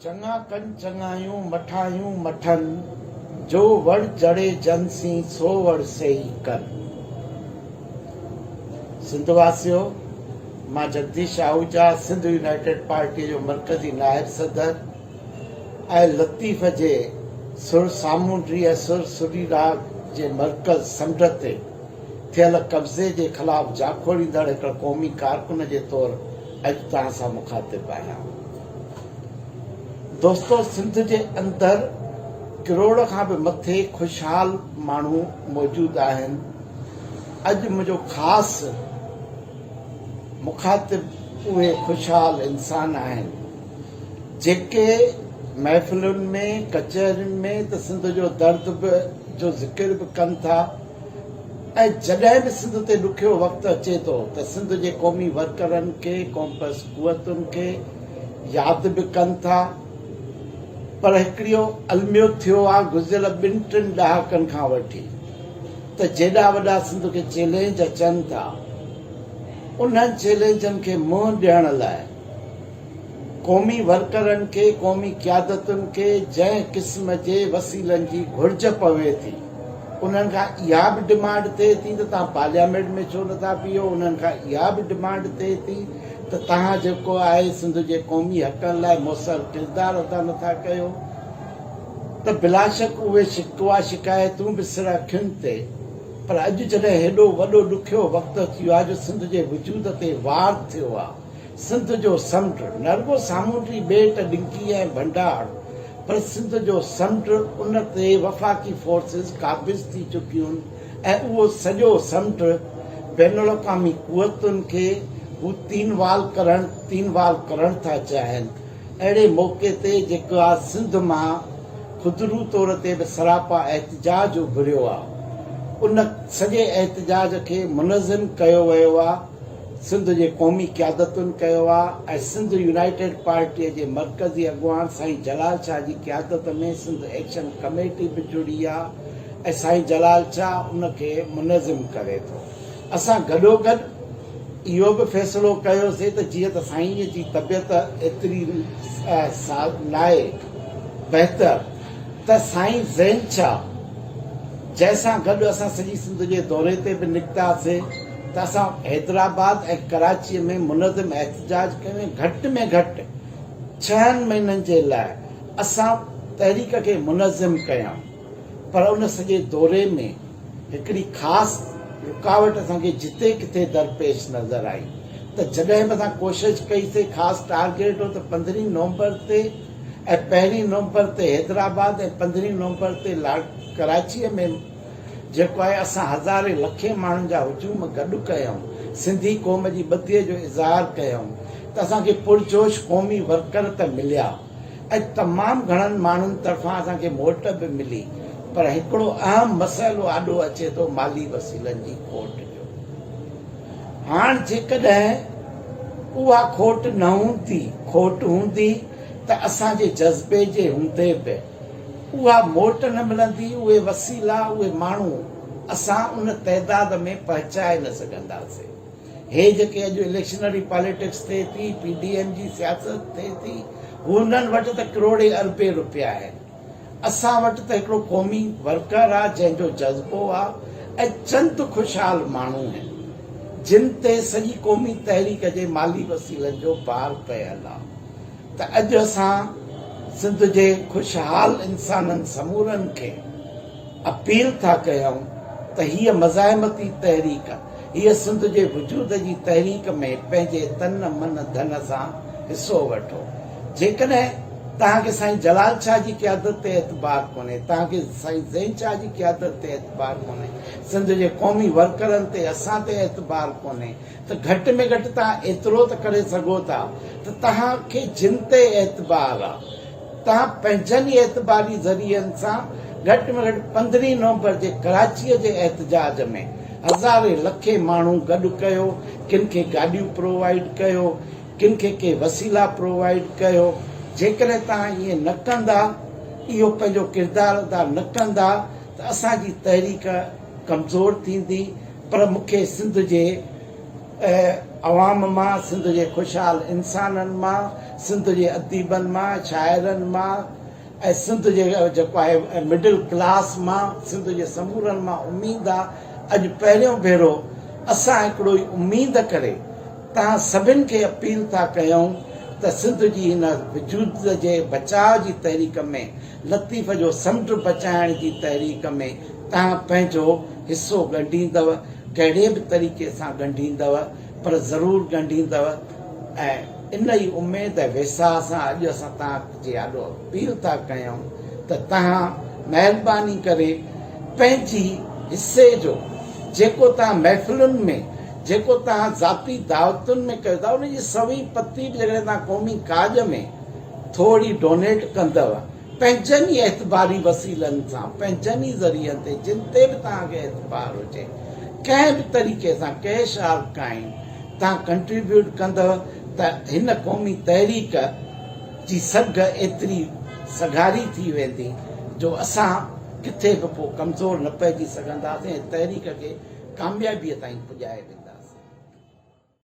چڱا ڪن چڱايون، مٺايون مٺن، جو وڙ جڙي جن سين، سو وڙ سيئي ڪن. سنڌ واسيو! مان جگديش آهوجا، سنڌ يونائيٽيڊ پارٽيء جو مرڪزي نائب صدر ۽ لطيف جي سر سامونڊي ۽ سر سري راڳ جي مرڪز سنڍ تي ٿيل قبضي جي خلاف جاکوڙيندڙ هڪڙي قومي ڪارڪن جي طور اڄ توهان سان مخاطب آهيان دوستو سنڌ جي اندر ڪروڙ کان به مٿي خوشحال ماڻهو موجود آهن اڄ منهنجو خاص مخاطب اهي خوشحال انسان آهن جيڪي محفلن ۾ ڪچهرين ۾ ته سنڌ جو درد به جو ذڪر به ڪن ٿا ۽ جڏهن به سنڌ تي ڏکيو وقت اچي ٿو ته سنڌ جي قومي ورڪرن کي ڪومپس قوتن کي ياد به ڪن ٿا پر هڪڙيو الميو ٿيو آ گذريل ٻن ٽن ڏهاڪن کان وٺي ته جيڏا وڏا سنڌ کي چئلينج اچن ٿا انهن چئلينجن کي منهن ڏيڻ لاء قومي ورڪرن کي، قومي قيادتن کي جنهن قسم جي وسيلن جي گهرج پوي ٿي، انهن کان اها به ڊمانڊ ٿئي ٿي ته توهان پارليامينٽ ۾ ڇو نه ٿا بيهو، انهن کان اها به ڊمانڊ ٿئي ٿي ته توهان جيڪو آهي سنڌ جي قومي حقن لاء موثر ڪردار ادا نه ٿا ڪيو ته بلاشڪ اهي شڪوا شڪايتون به سر اکين تي پر اڄ جڏهن هيڏو وڏو ڏکيو وقت اچي ويو آهي جو سنڌ جي وجود تي وار ٿيو آهي. سنڌ جو سمنڊ نه رڳو سامونڊي ٻيٽ ڊنڪي ۽ ڀنڊار پر سنڌ جو سمنڊ ان تي وفاقي فورسز قابض ٿي چڪيون ۽ اهو سڄو سمنڊ بين الاقوامي قوتن کي هو تين وال ڪرڻ تين وال ڪرڻ ٿا چاهين اهڙي موقعي تي جيڪا سنڌ مان خودرو طور تي به سراپا احتجاج اڀريو آهي ان سڄي احتجاج کي منظم ڪيو ويو آهي سنڌ جي قومي قيادتن ڪيو آ ۽ سنڌ يونائيٽيڊ پارٽيء جي مرڪزي اڳواڻ سائين جلال شاهه جي قيادت ۾ سنڌ ايڪشن ڪميٽي به جڙي آ ۽ سائين جلال شاهه ان کي منظم ڪري ٿو. اسان گڏوگڏ اهو به فيصلو ڪيوسي ته جيئن ته سائينء جي طبيعت ايتري ساز ناهي بهتر ته سائين زين شاهه جنهن سان گڏ اسان سڄي سنڌ جي دوري تي به نڪتاسي، ته اسان حيدرآباد ۽ ڪراچيء ۾ منظم احتجاج ڪيون ۽ گهٽ ۾ گهٽ ڇهن مهينن جي لاء اسان تحريڪ کي منظم ڪيائون پر ان سڄي دوري ۾ هڪڙي خاص رڪاوٽ اسان کي جتي ڪٿي درپيش نظر آئي ته جڏهن به اسان ڪوشش ڪئي سي خاص ٽارگيٽ هو ته پندرهين نومبر تي ۽ پهرين نومبر تي حيدرآباد ۽ پندرهين نومبر تي ڪراچيء ۾ جيڪو آهي اسان هزارين لکين ماڻهن جا هجوم گڏ ڪيائون سنڌي قوم جي ٻڌيء جو اظهار ڪيائون ته اسان کي پرجوش قومي ورڪر ته مليا ۽ تمام گهڻن ماڻهن طرفان اسان کي موٽ به ملي پر هڪڙو اهم مسئلو آڏو اچي ٿو مالي وسيلن جي کوٽ جو هاڻ جيڪڏهن اها کوٽ نه هوندي کوٽ هوندي ته اسان جي جذبي جي هوندي به اها موٽ نه ملندي، اهي وسيلا، اهي ماڻهو اسان ان تعداد ۾ پهچائي نه سگهنداسين. هي جيڪي اڄ اليڪشنري پاليٽڪس ٿئي ٿي، پي ڊي ايم جي سياست ٿئي ٿي، هنن وٽ ته ڪروڙين اربين روپيا آهن. اسان وٽ ته هڪڙو قومي ورڪر آ، جنهن جو جذبو آ ۽ چند خوشحال ماڻهو آهن، جن تي سڄي قومي تحريڪ جي مالي وسيلن جو بار پيل آ. ته اڄ اسان سنڌ جي خوشحال انسانن سمورن کي اپيل ٿا ڪيون ته هيء مزاحمتي تحريڪ، هيء سنڌ جي وجود جي تحريڪ ۾ پنهنجي تن من ڌن سان حصو وٺو. جيڪڏهن توهان کي سائين جلال شاهه جي قيادت تي اعتبار ڪونهي، توهان کي سائين زين شاهه جي قيادت تي اعتبار ڪونهي، سنڌ جي قومي ورڪرن تي، اسان تي اعتبار ڪونهي، ته گهٽ ۾ گهٽ توهان ايترو ته ڪري سگهو ٿا ته توهان کي جن تي اعتبار آ توهان پنهنجن ئي اعتباري ذريعن سان گهٽ ۾ گهٽ پندرهين نومبر جي ڪراچيء جي احتجاج ۾ هزارين لکين ماڻهو گڏ ڪيو ڪن کي گاڏيون پرووائيڊ ڪيو ڪن کي ڪي وسيلا پرووائيڊ ڪيو جيڪڏهن توهان ائين نه ڪندا اهو پنهنجو ڪردار ادا نه ڪندا ته اسان جي تحريڪ ڪمزور ٿيندي پر مون کي سنڌ جي عوام مان سنڌ جي خوشحال انسانن مان سنڌ جي اديبن مان شاعرن مان ۽ سنڌ جي جيڪو آهي مڊل ڪلاس مان سنڌ جي سمورن مان اميد آ اڄ پهريون ڀيرو اسان هڪڙو ئي اميد ڪري تهان سڀن کي اپيل ٿا ڪيون ته سنڌ جي هن وجود جي بچاء جي تحريڪ ۾ لطيف جو سمنڊ بچائڻ جي تحريڪ ۾ توهان پنهنجو حصو ڳنڍيندؤ، ڪهڙي به طريقي سان ڳنڍيندؤ پر ضرور ڳنڍيندؤ ۽ ان ئي اميد ۽ ويساهه سان اڄ اسان توهان جي آڏو اپيل ٿا ڪيون ته توهان مهرباني ڪري پنهنجي حصي جو جيڪو توهان محفلن ۾ جيڪو توهان ذاتي دعوتن ۾ ڪيو ٿا ان جي سوين پتي به جيڪڏهن توهان قومي ڪاڄ ۾. ٿوري ڊونيٽ ڪندؤ پنهنجن ئي اعتباري وسيلن سان، پنهنجن ئي ذريعن تي، جن تي به توهان کي اعتبار هجي، ڪنهن به طريقي سان، ڪيش آر ڪائين، توهان ڪنٽريبيوٽ ڪندؤ ته هن قومي تحريڪ جي سگهه ايتري سگهاري ٿي ويندي جو اسان ڪٿي به پوء ڪمزور نه پئجي سگهنداسين ۽ تحريڪ کي ڪاميابيء تائين پڄائي وينداسين.